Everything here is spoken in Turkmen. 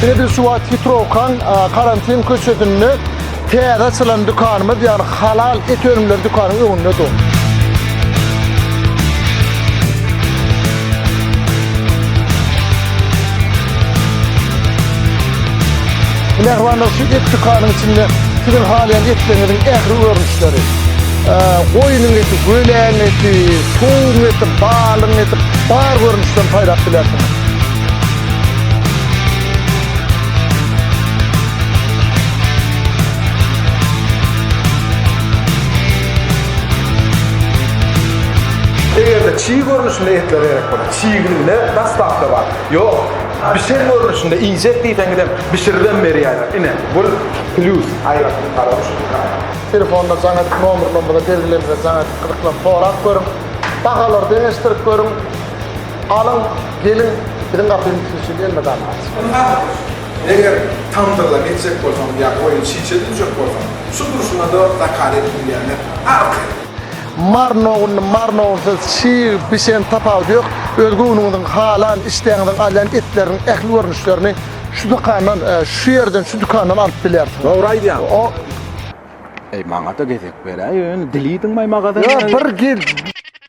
Edil şu wagt Hitrokan karantin köçesinde täze açylan dükanymyz, ýagny halal et önümleri dükanynyň öňünde dur. Mehribanlar şu et dükanynyň içinde siziň halaýan etleriňiziň ähli görnüşi ýürekleri. Goýnuň eti, göleň eti, towugyň eti, balygyň eti bar görnüşden saýlap bilersiňiz. Eger-de çig görnüşinde etler gerek bolsa, çiginde daslapda bar. Ýok, bişen görnüşinde iýjek diýseňizem, bişiribem berýärler. Ine, bu plýus aýratyn garawuş. Telefonda jaň edip nomerlerimize belgilenmede jaň edip gyzyklanyp sorap görüň. Bahalary deňeşdirip görüň. Alyň, geliň, biziň gapymyz siz üçin elmydam açyk. Ynha, eger tamdyrdan geçjek bolsaň ýa-da oýun çiçe düşjek bolsaň, şu durşuna-da zakaz edip bilýärler. Arka. Mary nogunly mary nogunsyz çig bişen tapawudy ýok. Öz göwnüňiziň halan, işdäňiziň alýan etleriň ähli görnüşlerini Şu dükandan, e, şu yerden, şu dükandan alyp bilersin. Dogry aýdýaň. O, Eý, maňa-da gezek beräý, ýöne dilidiňmi magadany? ya bir gir,